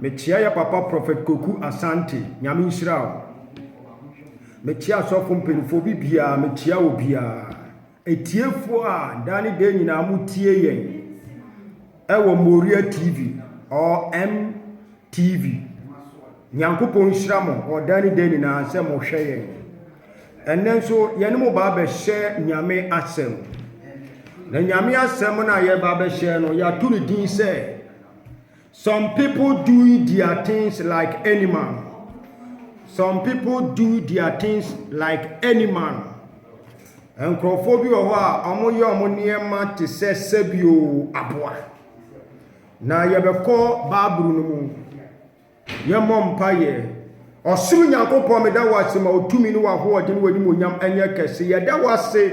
Mekyea yɛ papa prɔfɛt Koku Asante nyame nhyira wo mekyea asɔfo mpanyinfoɔ bi biara mekyea wɔ biara atiefoɔ a daa ne daa nyinaa mo tie yɛn ɛwɔ Moria TV or MTV nyankopɔn nhyira mo wɔ daa ne daa nyinaa sɛ mo hwɛ yɛn ɛnɛ nso yɛne mo baa bɛhyɛ nyame asɛm na nyame asɛm no a yɛba bɛhyɛ no yɛato ne din sɛ Some people do their things like any man. Some people do their things like any man. Nkurɔfoɔ bi wɔ hɔ a wɔyɛ wɔn nneɛma te sɛ sɛbio aboa. Na yɛbɛkɔ Bible no mu. Yɛmmɔ mpaeɛ. Ɔsoro Nyankopɔn, meda wo ase ma wo tumi ne w'ahoɔden, w'animuonyam ɛnyɛ kɛse. Yɛda wo ase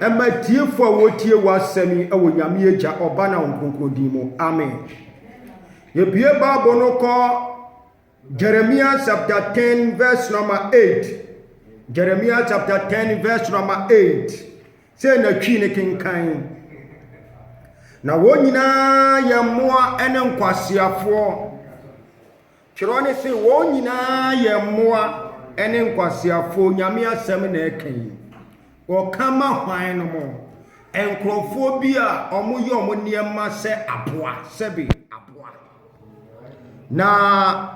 ɛma atiefoɔ a wɔtie w'asɛm yi ɛwɔ Nyame Agya, Ɔba na Honhom Kronkron din mu. Amen. Yɛbue Bible no kɔ Jeremiah chapter 10 verse number 8. Jeremiah chapter 10 verse number 8. Sei na Twi no kenkan. Na wɔn nyinaa yɛ mmoa ne nkwaseafoɔ. Twerɛ no se wɔn nyinaa yɛ mmoa ne nkwaseafoɔ. Nyame asɛm na ɛka yi. Ɔka ma hwan no mo? Nkurɔfoɔ bi a wɔyɛ wɔn nneɛma sɛ aboa, sɛbe aboa. Na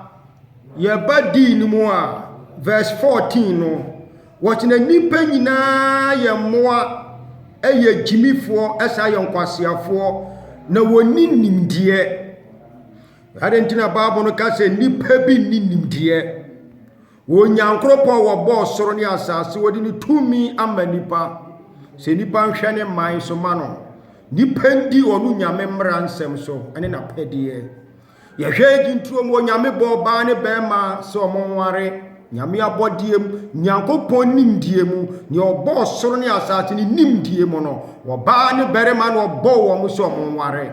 yɛba dii no mu a, verse 14 no, wɔte na nnipa nyinaa yɛ mmoa, ɛyɛ gyimifoɔ, ɛsan yɛ nkwaseafoɔ, na wɔnni nimdeɛ. Adɛn nti na Bible no ka sɛ nnipa bi nni nimdeɛ? Wɔ Nyankoropɔn a wɔbɔɔ soro ne asase wɔde ne tumi ama nnipa sɛ nnipa nhwɛ ne man so ma no nnipa ndi ɔno nyame mmara nsɛm so ne n'apɛdeɛ. Yɛhwɛ agyintuo mu onyame bɔ ɔbaa ne bɛrima sɛ ɔmo nware nyame abɔdeɛ mu Nyankopɔn nimdeɛ mu nea ɔbɔɔ soro ne asase ne nimdeɛ mu no ɔbaa ne bɛrima na ɔbɔɔ wɔn sɛ ɔmo nware.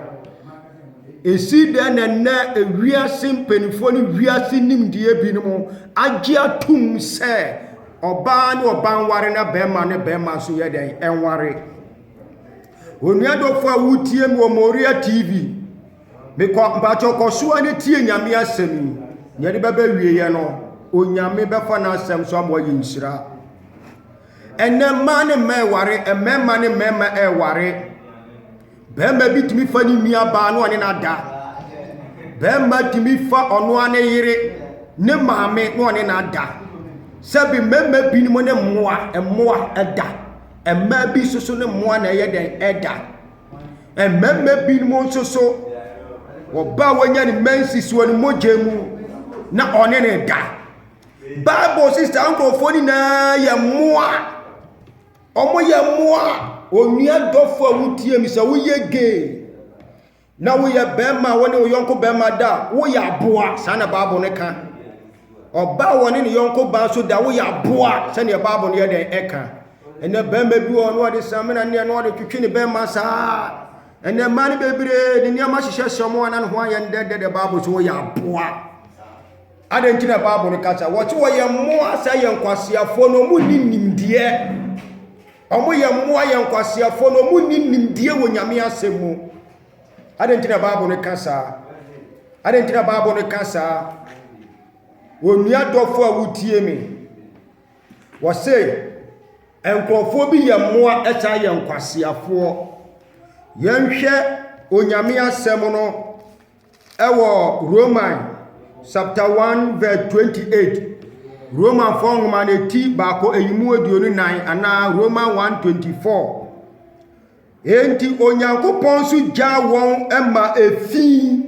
Esi dɛn na nnɛ wiase mpanimfoɔ ne wiase nimdeɛ binom agye atom sɛ ɔbaa ne ɔbaa nware na bɛrima ne bɛrima nso yɛ dɛn nware? Onua dɔfo a wotie me wɔ Moria TV, mekɔ mpakyɛ kɔ so a ne tie Nyame asɛm yi. Nea ɛde bɛbɛ wieɛ no, Onyame bɛfa n'asɛm so ama wɔayɛ nhyira. Ɛnnɛ mmaa ne mmaa ɛware, mmarima ne mmarima ɛware. Barima bi tumi fa ne nua baa na ɔne no ada. Barima tumi fa ɔno ara ne yere, ne maame na ɔne no ada. Sɛbi mmarima binom ne mmoa, mmoa ɛda. Mmaa bi nso so ne mmoa na ɛyɛ dɛn ɛda. Mmarima binom nso so ɔbaa wɔnya ne mensis wɔ ne mogya mu na ɔne no da. Bible se saa nkurɔfoɔ no nyinaa yɛ mmoa. Wɔyɛ mmoa. Onua dɔfo a wotie mi sɛ woyɛ gay na woyɛ bɛrima a wɔne wo yɔnko bɛrima da a, woyɛ aboa. Saa na Bible no ka. Ɔbaa a wɔne ne yɔnko baa nso da woyɛ aboa sɛdeɛ Bible no yɛ dɛn ɛka. Ɛnɛ bɛrima bi wɔ no ɔde samina neɛ no ɔde twetwe ne bɛrima saa. Ɛnɛ mmaa no bebree de nneɛma hyehyɛ hyɛ wɔn anan ho ayɛ ndɛndɛ dɛ Bible so woyɛ aboa. Adɛn nti na Bible no ka sɛ wɔte wɔyɛ mmoa sɛ yɛ nkwaseafoɔ na wɔn nni nimdeɛ? Wɔn yɛ mmoa yɛ nkwaseafoɔ na wɔn nni nimdeɛ wɔ Nyame asɛm mu. Adɛn nti na Bible no ka saa? Adɛn nti na Bible no ka saa? Onua dɔfo a wotie me, wɔse nkurɔfoɔ bi yɛ mmoa ɛsan yɛ nkwaseafoɔ. Yɛnhwɛ Onyame asɛm no. Wɔ Roman chapter 1 verse 28, Romanfoɔ nwoma no ti baako ayimu aduonu nan anaa Roman 124. Enti Onyankopɔn nso gyaa wɔn ma efi.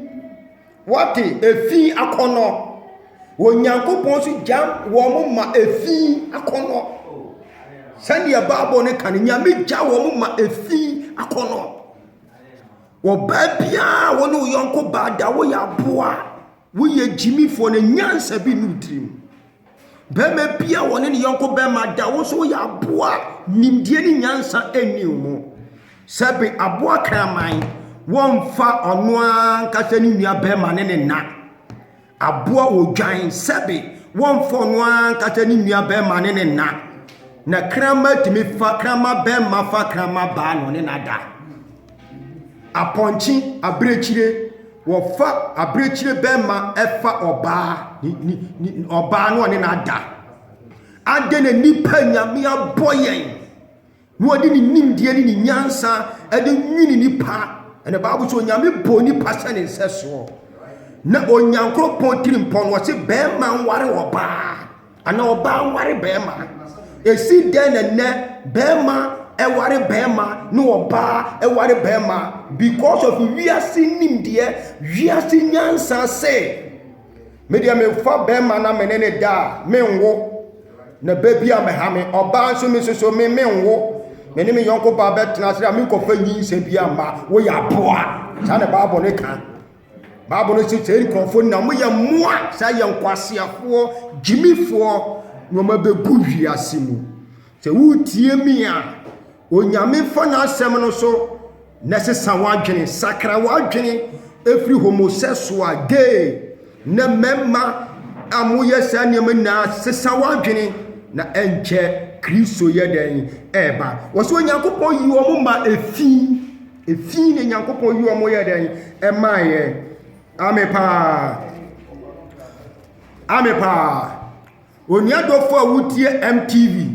Wɔte efi akɔnnɔ. Onyankopɔn nso gyaa wɔn ma efi akɔnnɔ. Sɛdeɛ Bible no ka no, Nyame gyaa wɔn ma efi akɔnnɔ. Ɔbaa biara a wo ne wo yɔnko baa da woyɛ aboa a, woyɛ gyimifoɔ no nyansa bi nni wo tirim. Bɛrima bi a wɔne ne yɔnko bɛrima da wo nso woyɛ aboa a nimdeɛ ne nyansa nni wo mu. Sɛbe aboa kraman, wɔmfa ɔno ara ankasa ne nua bɛrima ne ne nna. Aboa wɔ dwan sɛbe wɔmfɔ no ara nkata ne nua bɛrima ne ne na. Na kramma tumi fa kramma bɛrima fa kramma baa na ɔne na da. Apɔnkye abirekyire wɔfa abirekyire bɛrima ɛfa ɔbaa ɔbaa na ɔne na da. Adɛn na nipa nyame abɔ yɛn? na ɔde ne nimdeɛ ne ne nyansa de nwini nnipa ɛna baabu sɛ onyame bɔ nnipa sɛ ne nsɛsoɔ na onyankoropɔn tiri mpɔ no ɔse bɛrima nware ɔbaa ana ɔbaa nware bɛrima ɛsi dɛn na nnɛ bɛrima ɛware bɛrima ne ɔbaa ɛware bɛrima because of wiase nimdeɛ wiase nyansa sɛ Me deɛ memfa bɛrima na me ne ne da a menwo. Na bɛ bi a mɛha me ɔbaa nso me soso me menwo. Me ne me yɔnko baa bɛtena ase a menkɔfa nyinsɛ bi amma woyɛ aboa. Saa na Bible no ka. Bible no sɛ sɛ nkurɔfoɔ nyinaa moyɛ mmoa saa yɛ nkwaseafoɔ gyimifoɔ na wɔn abɛgu wiase mu. Sɛ wotie me a Onyame fa n'asɛm no so na sesa w'adwene, sakra w'adwene ɛfiri homosexual, gay, na mmarima a moyɛ saa nneɛma nyinaa sesa w'adwene na ɛnkyɛ Kristo yɛ dɛn ɛreba. Wɔsɛ Onyankopɔn yi wɔn ma efi, efi na Onyankopɔn yi wɔn yɛ dɛn ɛma yɛ. Ame paa, ame paa. Onua dɔfo a wotie MTV.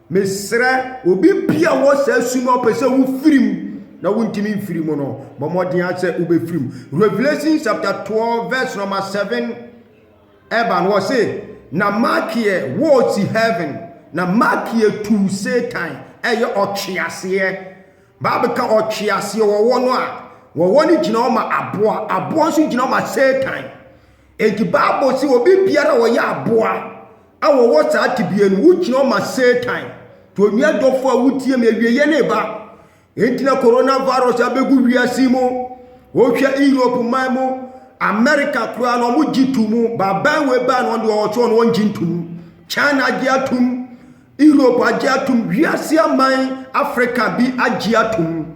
Mesrɛ obi bia ɔwɔ saa su no ɔpɛ sɛ wofiri mu na wontumi mfiri mu no bɔ mmɔden ara sɛ wobɛfiri mu. Revelation chapter 12 verse number 7 ɛba no ɔse na Makeɛ wɔɔsi heaven na Makeɛ tuu Satan ɛyɛ ɔtweaseɛ. Bible ka ɔtweaseɛ wɔwɔ no a wɔwɔ no gyina hɔ ma aboa, aboa nso gyina hɔ ma Satan. Enti Bible se obi biara a ɔyɛ aboa A wɔwɔ saa tebea no, wokyia wɔn ma Satan to onua dɔfo a wotie me awieɛ no reba. Enti na coronavirus abɛgu wiase mu. Wohwɛ Europe man mu, America koraa no, wɔgye to mu. Baaban wei baa no, wɔn deɛ wɔwɔ so no, wɔngye nto mu. China agye atom, Europe agye atom, wiase aman Africa bi agye atom.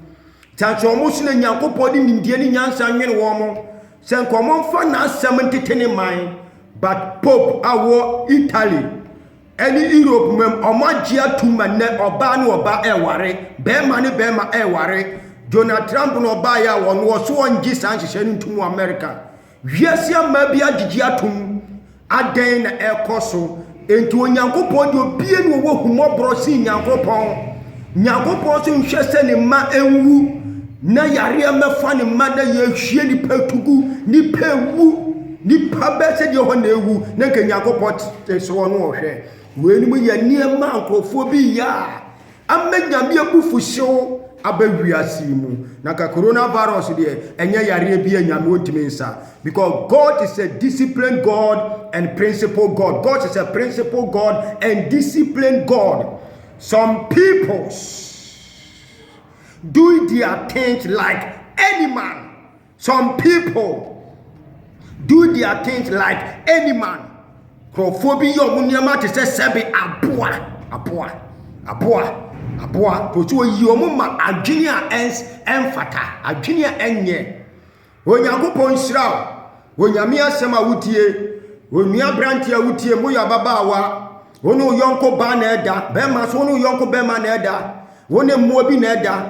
Sɛ nso wɔn so na Nyankopɔn de nimdeɛ ne nyansa nwene wɔn, sɛ nka wɔmfa n'asɛm ntete ne man, But Pope a ɔwɔ Italy ɛne Europe mam ɔmo agye atum ma nnɛ ɔbaa ne ɔbaa ɛɛware, bɛɛma ne bɛɛma ɛɛware. Donald Trump na ɔbaeɛ a ɔno ɔse ɔngye saa nhyehyɛe no ntum wɔ America. Wiase amaa bi agyegye atum, adɛn na ɛɛkɔso Enti Onyankopɔn deɛ obie ne ɔwɔ ahummɔborɔ sen Nyankopɔn. Nyankopɔn nso nhwɛ sɛ ne mma nwu, na yareɛ mmɛfa ne mma na yɛhwie nipa tugu, nipa ewu, nipa bɛ sɛ deɛ hɔ na ewu, na nka Nyankopɔn te soɔ no ɔhwɛ. Weinom yɛ nneɛma a nkurɔfoɔ bi yɛ a Ama Nyame abufuhyew aba wiase yi mu. Na ka corona virus deɛ ɛnyɛ yareɛ bi a Nyame ɔntumi nsa. Because God is a disciplined God and principle God. God is a principle God and disciplined God. Some peoples doing their things like any man. some people do their things like any man nkurɔfoɔ bi yɛ ɔmo nneɛma te sɛ sɛbe aboa aboa aboa aboa kòtò oyi ɔmo ma adwene a ɛns ɛnfata adwene a ɛnyɛ onyankopɔn nhyira o onyame asɛm a wotie onua aberanteɛ a wotie mo yɛ ababaawa wo ne wo yɔnko baa na ɛda bɛrima so wo ne wo yɔnko bɛrima na ɛda wo ne mmoa bi na ɛda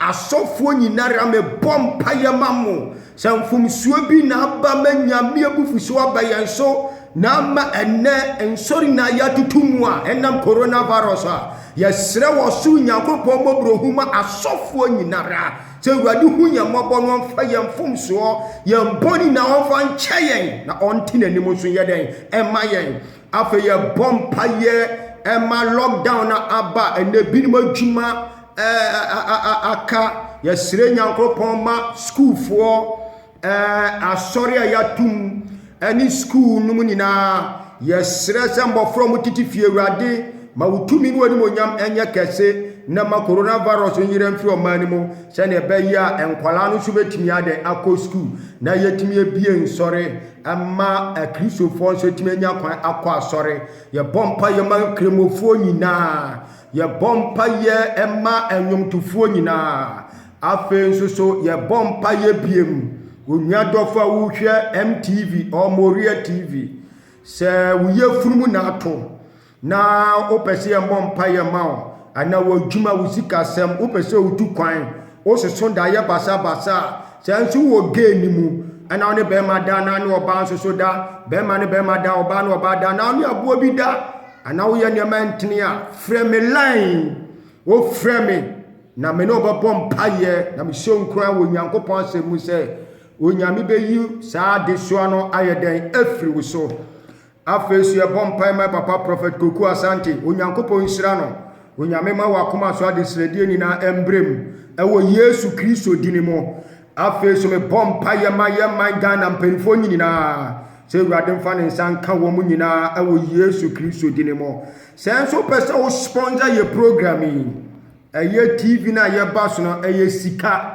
Asɔfoɔ nyinara me bɔ mpaeɛ ma mo sɛ mfomsoɔ bi na aba ma Nyame abufuhyeɛ aba yɛn so na ama ɛnɛ nsɔre nyinaa yɛatoto mu a ɛnam coronavirus a yɛsrɛ wɔ soro Nyankopɔn mmɔborɔhu ma asɔfoɔ nyinara sɛ Awurade hu yɛn mmɔbɔ na ɔmfa yɛn mfomsoɔ yɛn bɔne nyinaa ɔmfa nkyɛ yɛn na ɔnte n'anim nso yɛ dɛn ɛma yɛn Afei yɛbɔ mpaeɛ ma lockdown no aba ɛnna ebinom adwuma aka yɛsrɛ nyankopɔn ma sukuufoɔ asɔre a yɛatom ɛne sukuu no mu nyinaa yɛsrɛ sɛ mmɔfra mu tete fie awurade ma wo tumi ne w'animonyam ɛnyɛ kɛse na ma coronavirus nyerɛ mfiri ɔman no mu sɛdeɛ ɛbɛyɛ a nkwadaa no nso bɛtumi adɛ akɔ sukuu na yɛtumi abie nsɔre ɛma Akristofoɔ nso tumi anya kwan akɔ asɔre. Yɛbɔ mpaeɛ ma nkramofoɔ nyinaa. Yɛbɔ mpaeɛ ma nnwomtofoɔ nyinaa. Afei nso so yɛbɔ mpaeɛ biem. Onua dɔfo a wohwɛ MTV or Moriah TV, sɛ wo yafunu mu na ato na wopɛ sɛ yɛmmɔ mpaeɛ ma wo anaa w'adwuma wo sikasɛm wopɛ sɛ wotu kwan wososo da yɛ basabasa a saa nso wɔ gay no mu ɛna wo ne bɛrima da na ne ɔbaa nso so da bɛrima ne bɛrima da ɔbaa ne ɔbaa da na wo ne aboa bi da anaa woyɛ nneɛma ntene a frɛ me line wofrɛ me na me ne ɔbɛbɔ mpaeɛ na mehyɛ nkura wɔ nyankopɔn asɛm mu sɛ onyame bɛyi saa adesoa no ayɛ dɛn afiri wo so Afei nso yɛbɔ mpae ma papa Prophet Koku Asante, Onyankopɔn nhyira no. Onyame ma wakoma so adesrɛdeɛ nyinaa mbrɛ mu ɛwɔ Yesu Kristo dini mu. Afei nso mebɔ mpaeɛ ma yɛ man Ghana mpaninfoɔ nyinaa sɛ Awurade mfa ne nsa nka wɔn nyinaa ɛwɔ Yesu Kristo dini mu. Sɛ nso wopɛ sɛ wo sponsor yɛ program yi, ɛyɛ TV no a yɛba so no ɛyɛ sika.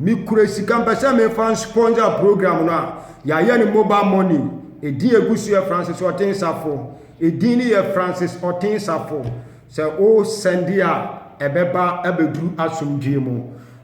Mekura sika mpɛ sɛ mefa nsponsor program no a yɛayɛ no mobile money ɛdin a ɛgu so yɛ Francis Ɔtensafo ɛdin no yɛ Francis Ɔtensafo sɛ wo sɛnde a ɛbɛba abɛduru asomdwee mu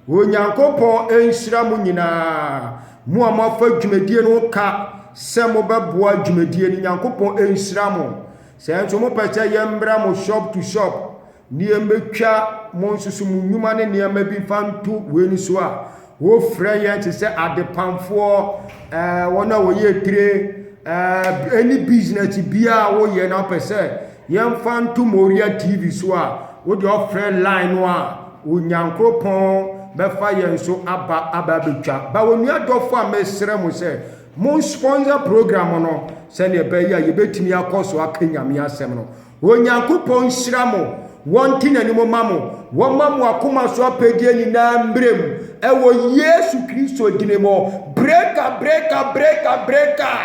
Onyankopɔn nhyira mo nyinaa mo a moafa dwumadie no ka sɛ mobɛboa dwumadie no Nyankopɔn nhyira mo sɛ nso mopɛ sɛ yɛmmra mo shop to shop Nneɛma twa, monsusu mo nnwuma ne nneɛma bi mfa nto wei no so a, wɔfrɛ yɛn te sɛ adepamfoɔ, ɛɛ, wɔn a wɔyɛ etire, ɛɛ, ɛne business biara a woyɛ na wopɛ sɛ yɛmfa nto Moria TV so a, wode ɔfrɛ line no a, Onyankoropɔn bɛfa yɛn so aba aba abɛtwa. Ba onua dɔfo a mesrɛ mo sɛ, mo sponsor program no sɛdeɛ ɛbɛyɛ a yɛbɛtumi akɔ so aka Nyame asɛm no. Onyankopɔn nhyira mo, wɔnte n'anim ma mo, wɔma mo akoma so apɛdeɛ nyinaa mmerɛ mu, ɛwɔ Yesu Kristo dini mu. Breaker, breaker, breaker, breaker,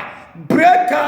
breaker!